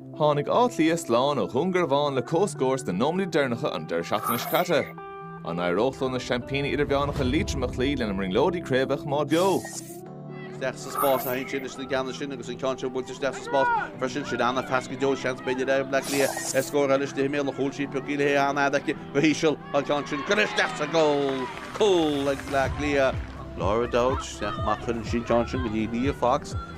Tháinig Áth Cliath slán ó Dhún Garbhán le comhscór sna nóiméid deireanacha an deireadh seachtaine seo caite. An n-éireodh leo na seaimpíní idirmheánacha Liatroim a chloí lena mbrionglóidí craoibhe a choimeád beo? Isteach sa spás a théann siad leis an gceann sin agus an ceann seo buailte isteach sa spás freisin. Sin an-phas go deo. Seans b'fhéidir ag Bleá Cliath ar scór eile i mbéal an chúil. Sí pioc í le hé an-fhada aici go híseal. Tá an ceann sin curtha isteach sa gcúl. Cúl ag Bleá Cliath. Laura O'Dowd isteach amach cuireann sí an ceann sin go dtí Leah Fox.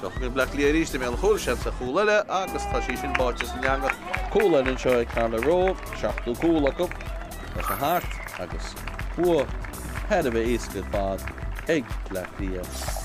Seo Bleá Cliath arís i mbéal an chúil, seans ar chúl eile agus tá sí sin báite san eangach. Cúl eile anseo ag Carla Rowe, seachtú cúl acu. Tá sé thart agus bua thar a bheith éasca ar fad ag Bleá Cliath.